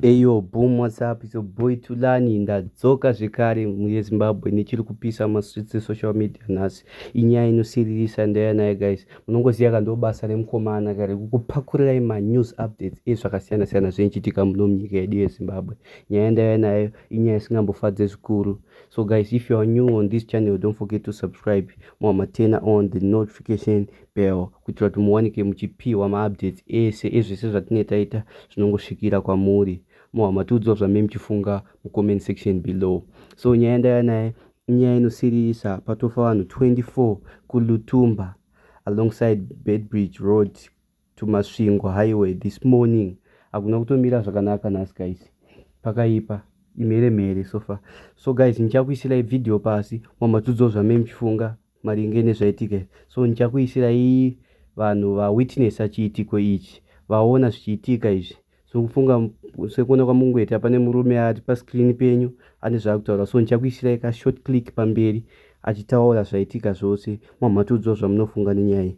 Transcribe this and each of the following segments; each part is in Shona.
Eyo boom what's up it's your boy Tulani ndadzoka zvekare muyeZimbabwe nechiri kupisa maswitsi social media nhasi inyaya inosiririsa ndeyanaye guys munongoziva ka ndobasa remukomana kare kukupakurirai manews updates ezvakasiyana siyana zvinochitika muno munyika yedu yeZimbabwe nyaya ndaya nayo inyaya isingambofadze zvikuru so guys if you are new on this channel don't forget to subscribe mwamatena on the notification bell kuitira kuti muwanike muchipiwa maupdates ese ezvese zvatinenge taita zvinongosvikira kwamuri mohwa matiudzwa zvamai muchifunga mucomment section below so nyaya ndaya naye inyaya inosiririsa patofa vanhu 24 kulutumba alongside bedbridge road to masvingo highway this morning hakuna kutomira zvakanaka nhasi guys pakaipa imhere mhere sofa so guys ndichakuisirai video pasi mwa matudzo zvamai muchifunga maringe nezvaitika so ndichakuisirai vanhu vawitnessa chiitiko ichi vaona zvichiitika izvi so kufunga sekuona kwamungoita pane murume ati pascreen penyu ane zvaakutaura so ndichakuisirai kashort click pamberi achitaura zvaitika zvose mwamhatudzwa zvamunofunga nenyaya iyi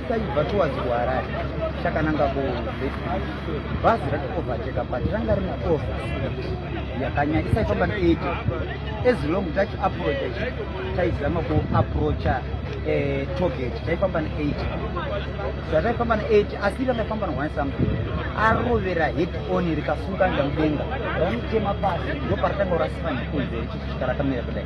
taibva towards kuharare takananga kubhazi ratikovateka but ranga rine off yakanyanya isaifamba neeity as long tachi approacha taizama kuapproacha eh, toget taifamba neeity so ataifamba neeity asi rakaifamba ne one something arovera head on rikasunga nda mudenga ramuchema pasi ndoparatanga kurasika nekunze richisvika rakamira kudai